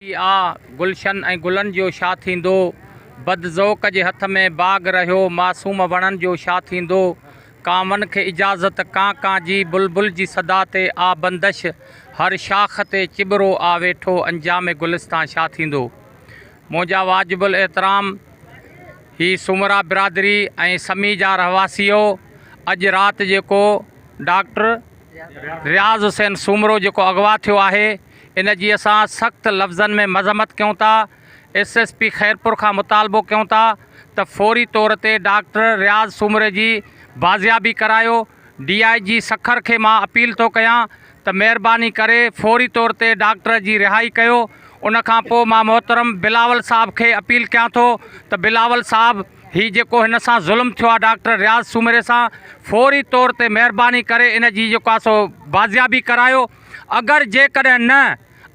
ڪي آ گلشن ۽ گلن جو شا ٿيندو؟ بد ذوق جي هٿ ۾ باغ رهيو معصوم وڻن جو شا ٿيندو؟ ڪانون کي اجازت ڪان ڪان جي بلبل جي صدا تي آ بندش هر شاخ تي چٻرو آ ويٺو انجام گلستان شا ٿيندو؟ منهنجا واجب الاحترام هي سومرا برادري ۽ سمي جا رهواسيو اڄ رات جيڪو ڊاڪٽر رياض حسين سومرو جيڪو اغوا ٿيو آهي ان جي اسان سخت لفظن ۾ مذمت ڪيون ٿا، ايس ايس پي خيرپور کان مطالبو ڪيون ٿا ته فوري طور تي ڊاڪٽر رياض سومري جي بازيابي ڪرايو، ڊي آء جي سکر کي مان اپيل ٿو ڪيان ته مهرباني ڪري فوري طور تي ڊاڪٽر جي رهائي ڪيو، ان کان پوء مان محترم بلاول صاحب کي اپيل ڪيان ٿو ته بلاول صاحب هي جيڪو هن سان ظلم ٿيو آ ڊاڪٽر رياض سومري سان فوري طور تي مهرباني ڪري ان جي جيڪو آ سو بازيابي ڪرايو. اگر جيڪڏهن نه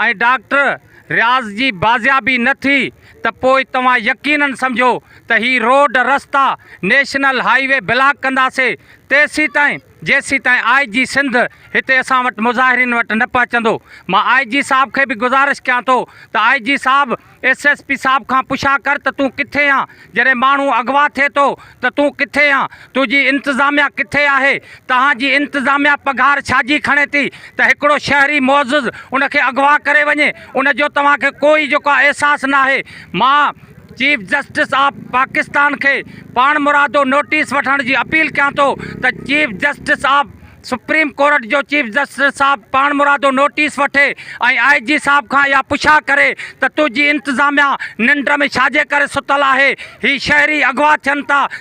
۽ ڊاڪٽر رياض جي بازيابي نه ٿي ته پوء توهان يقينن سمجهو ته هي روڊ رستا نيشنل هائي وي بلاڪ ڪنداسي تيسيتائين جيسيتائين آء جي سنڌ هتي اسان وٽ مظاهرين وٽ نه پهچندو مان آء جي صاحب کي به گذارش ڪيان ٿو ته آء جي صاحب ايس ايس پي صاحب کان پڇا ڪر ته تون ڪٿي آن جڏهن ماڻهو اغوا ٿئي ٿو ته تون ڪٿي آن تنهنجي انتظاميا ڪٿي آهي توهان جي انتظاميا پگهار ڇاجي کڻي ٿي ته هڪڙو شهري معزز ان کي اغوا ڪري وڃي ان جو توهان کي ڪو ئي جيڪو آهي احساس ناهي مان چيف جسٽس آف پاڪستان کي پاڻمرادو نوٽيس وٺڻ جي اپيل ڪيان ٿو ته chief justice of supreme court جو چيف جسٽس صاحب پاڻمرادو نوٽيس وٺي ۽ آء جي صاحب کان اها پڇا ڪري ته تنهنجي انتظاميا ننڊ ۾ ڇاجي ڪري ستل آهي؟ هي شهري اغوا ٿين ٿا